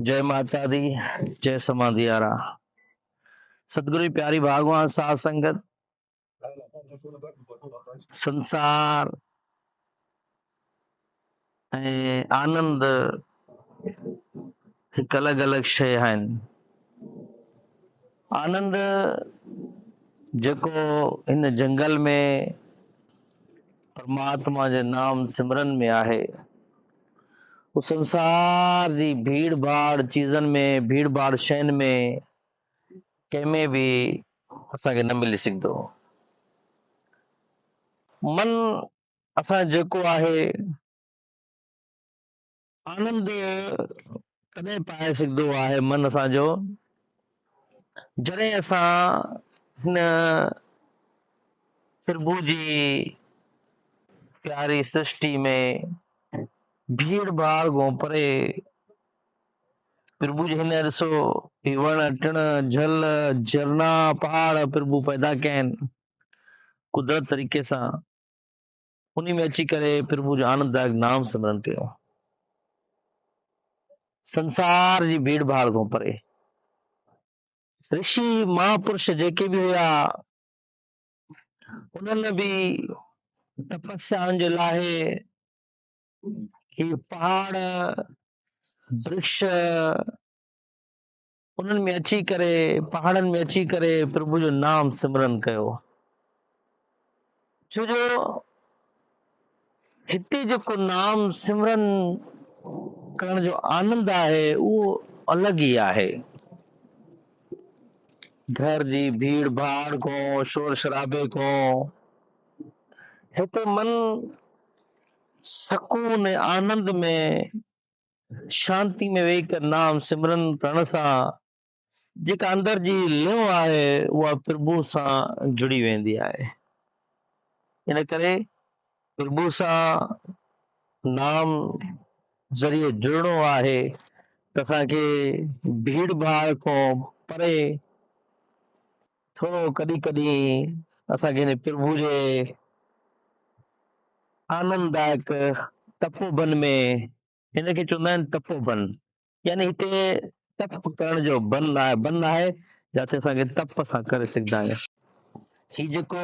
جئه ماتا دي جئه سمانديارا ستگرو پياري ڀاگوان ساز سنگت سنسار آنند هڪ الڳ الڳ شيء آهن آنند جيڪو هن جنگل ۾ پرماتما جي نام سمرن ۾ آهي هو سنسار جي ڀيڙ ڀاڙ چيزن ۾ ڀيڙ ڀاڙ شين ۾ ڪنهن ۾ به اسان کي نه ملي سگهندو. من اسان جو جيڪو آهي آنند تڏهن پائي سگهندو آهي من اسان جو جڏهن اسان هن پرڀو جي پياري سرشٽي ۾ ڀيڙ ڀاڙ کان پري پرڀو جي هن ڏسو هي وڻ ٽڻ جھل جھرنا پهاڙ پرڀو پيدا ڪيا آهن قدرت طريقي سان انهي ۾ اچي ڪري پرڀو جو آننددائڪ نام سمرن ڪيو. سنسار جي ڀيڙ ڀاڙ کان پري رشي مهاپرش جيڪي به هيا انهن به تپسيائن جي لاء هي پهاڙ برکش انهن ۾ اچي ڪري، پهاڙن ۾ اچي ڪري پرڀو جو نام سمرن ڪيو. ڇو جو هتي جيڪو نام سمرن ڪرڻ جو آنند آهي اهو الڳ ئي آهي. گهر جي ڀيڙ ڀاڙ کان شور شرابي کان هتي من سڪون آنند ۾ شانتي ۾ ويهي ڪر نام سمرن ڪرڻ سان جيڪا اندر جي لئو آهي اها پرڀو سان جڙي ويندي آهي ان ڪري پرڀو سان نام ذريعي جڙڻو آهي ته اسان کي ڀيڙ ڀاڙ کان پري ٿورو ڪڏهن ڪڏهن اسان کي هن پرڀو جي آنند دائڪ تپو بن ۾ هن کي چوندا آهن تپو بن يعني هتي تپ ڪرڻ جو بن آهي بن آهي جتي اسان کي تپ سان ڪري سگهندا آهيون هي جيڪو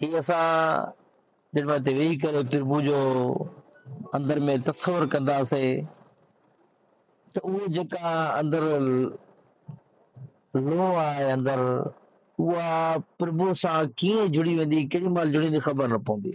هي اسان جڏهن هتي ويهي ڪري پرڀو جو اندر ۾ تصور ڪنداسين ته اهو جيڪا اندر لو آهي اندر اها پرڀو سان ڪيئن جڙي ويندي ڪيڏي مهل جڙي ويندي خبر نه پوندي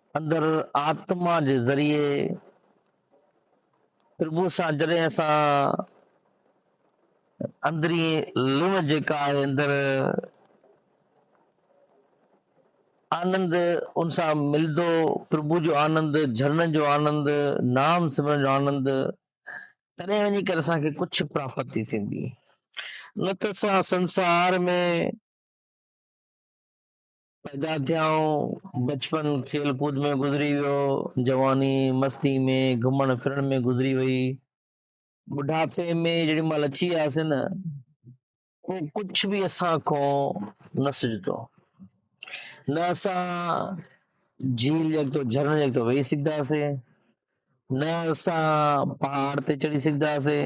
اندر آتما جي ذريعي پرڀو سان جڏهن اسان اندري لوڻ جيڪا آهي اندر آنند ان سان ملندو پرڀو جو آنند جھرنن جو آنند نام سمرن جو آنند تڏهن وڃي ڪري اسان کي ڪجھ پراپتي ٿيندي نه ته اسان سنسار ۾ پيدا ٿيائون، بچپن کيل ڪود ۾ گذري ويو، جواني مستي ۾ گهمڻ ڦرڻ ۾ گذري وئي، ٻڍاپي ۾ جيڏي مهل اچي وياسين نه پوء ڪجهه به اسان کان نه سجهندو نه اسان جھيل جڳتو جھرڻ جڳتو ويهي سگهنداسين نه اسان پهاڙ تي چڙهي سگهنداسين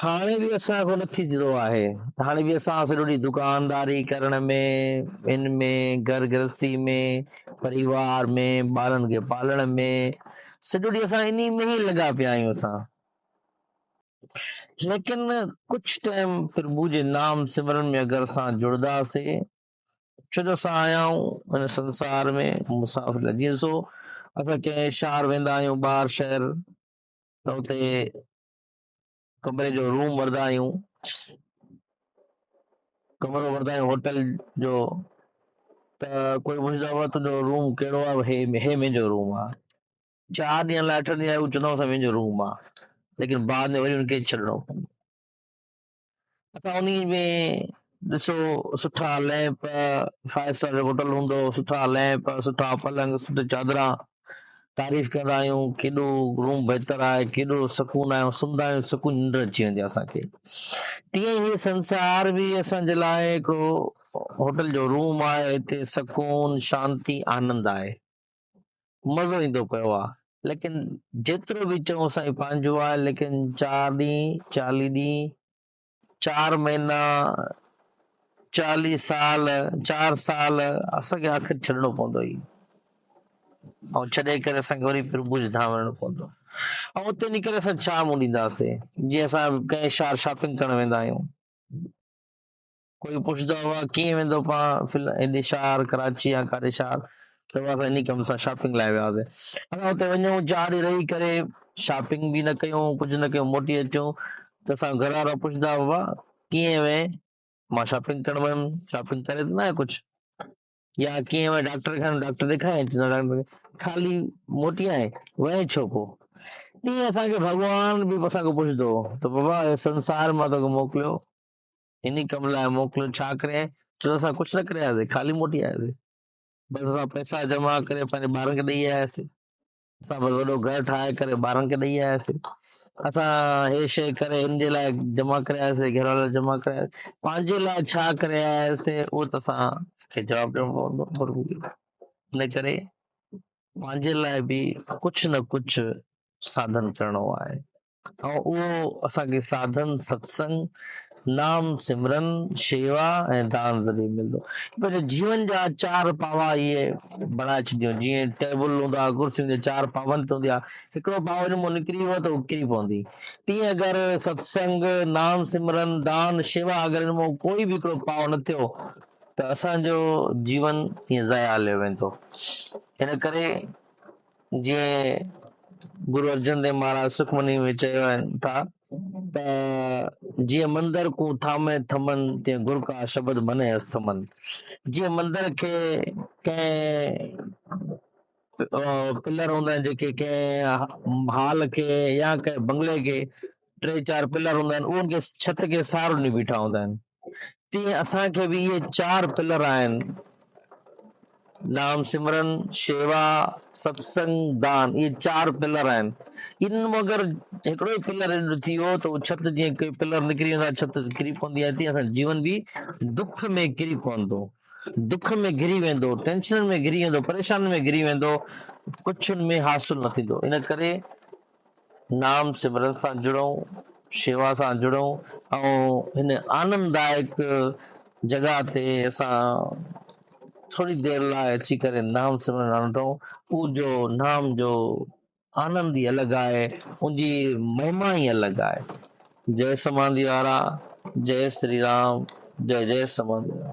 هاڻي به اسان کان نه ٿيندو آهي هاڻي به اسان سڄو ڏينهن دڪانداري ڪرڻ ۾ ان ۾ گهر گرهستي ۾ پريوار ۾ ٻارن کي پالڻ ۾ سڄو ڏينهن اسان انهي ۾ ئي لڳا پيا آهيون اسان ليڪن ڪجھ ٽائم پرڀو جي نام سمرن ۾ اگر اسان جڙدا سي ڇو جو اسان آيا آهيون ان سنسار ۾ مسافر جيئن سو اسان ڪنهن شهر ويندا آهيون ٻاهر شهر ته اتي ڪمري جو روم وردا آهيون، ڪمرو وردا آهيون هوٽل جو ته ڪوئي پڇندو آهي تنهنجو روم ڪهڙو آهي هي هي منهنجو روم آهي چار ڏينهن لاء اٺ ڏينهن آهي هو چوندو آهي منهنجو روم آهي ليڪن بعد ۾ وري ان کي ڇڏڻو پوندو اسان انهي ۾ ڏسو سٺا ليمپ فائيو اسٽار جو هوٽل هوندو سٺا ليمپ سٺا پلنگ سٺي چادران تعريف ڪندا آهيون ڪيڏو روم بهتر آهي ڪيڏو سڪون آهي سمندا آهيون سڪون ننڊ اچي ويندي اسان کي تيئن هي سنسار به اسان جي لاء هڪڙو هوٽل جو روم آهي هتي سڪون شانتي آنند آهي مزو ايندو پيو آ ليڪن جيترو به چئون سائين پنهنجو آ ليڪن چار ڏينهن چاليهه ڏينهن چار مهينا چاليهه سال چار سال اسان کي آخر ڇڏڻو پوندو اي ۽ ڇڏي ڪري اسان کي وري پرڀوج ڌام وڃڻو پوندو ۽ اتي وڃي ڪري اسان ڇا منهن ڏينداسين جي اسان ڪنهن شهر شاپنگ ڪرڻ ويندا آهيون ڪوئي پڇدا هئا ڪيئن ويندو پاڻ فل هيڏي شهر ڪراچي يا ڪاري شهر چئبو آهي اسان انهي ڪم سان شاپنگ لاء وياسي اسان اتي وڃون چار ڏينهن رهي ڪري شاپنگ به نه ڪيون ڪجهه نه ڪيون موٽي اچون ته اسان گهر وارا پڇدا هئا ڪيئن وئين مان شاپنگ ڪرڻ ويم شاپنگ ڪري ته نه آهي ڪجهه يا ڪيئن وئين ڊاڪٽر کان ڊاڪٽر ڏيکاريائين چئندا ڊاڪٽر خالي موٽي آئين وئين ڇو پوء تيئن اسانکي ڀڳوان به اسان کان پڇدو هو ته بابا هي سنسار مان توکي موڪليو انهي ڪم لاء موڪليو ڇا ڪري جو اسان ڪجهه نه ڪري آياسين خالي موٽي آياسين بس اسان پئسا جمع ڪري پنهنجي ٻارن کي ڏئي آياسين اسان بس وڏو گهر ٺاهي ڪري ٻارن کي ڏئي آياسين اسان هي شي ڪري ان جي لاء جمع ڪري آياسين گهر وارا جمع ڪري آياسين پنهنجي لاء ڇا ڪري آياسين اهو ته اسان کي جواب ڏيڻو پوندو پر ان ڪري پنهنجي لاء به ڪجهه نه ڪجهه ساڌن ڪرڻو آهي ۽ اهو اسان کي ساڌن، ستسنگ، نام سمرن، شيوا ۽ دان ذريعي ملندو. پنهنجي جيون جا چار پاوا اهي بڻائي ڇڏيو جيئن ٽيبل هوندا ڪرسين جا چار پاون تي هوندي آ هڪڙو پاو ان مان نڪري ويو ته هو ڪري پوندي تيئن اگر ستسنگ، نام سمرن، دان، شيوا اگر ان مان ڪوئي به هڪڙو پاو نه ٿيو ته اسان جو جيون ائين ضايع هليو ويندو ان ڪري جيئن گرو ارجن ديو مھاراج سخمنيء ۾ چيو آهن ٿا ته جيئن مندر ڪو ٿامي ٿمن تيئن گر ڪا شبد مني اس ٿمن جيئن مندر کي ڪنهن پلر هوندا آهن جيڪي ڪنهن هال کي يا ڪنهن بنگلي کي ٽي چار پلر هوندا آهن انهن کي ڇت کي سهارو ڏني بيٺا هوندا آهن تيئن اسان کي به اهي چار پلر آهن نام سمرن شيوا ستسنگ دان اهي چار پلر آهن ان مگر هڪڙو ئي پلر ٿي ويو ته ڇت جيئن ڪي پلر نڪري ويندا ڇت ڪري پوندي آهي تيئن اسان جيون به دک ۾ ڪري پوندو دک ۾ گري ويندو ٽينشنن ۾ گري ويندو پريشانين ۾ گري ويندو ڪڇن ۾ حاصل نه ٿيندو ان ڪري نام سمرن سان جڙئون، شيوا سان جڙئون ۽ هن آنندائڪ جڳهه تي اسان ٿوري دير لاء اچي ڪري نام سمرن آنڊئون، ان جو نام جو آنند ئي الڳ آهي، ان جي مهما ئي الڳ آهي. جئه سماڌي وارا، جئه سري رام، جئه جئه سماڌي وارا.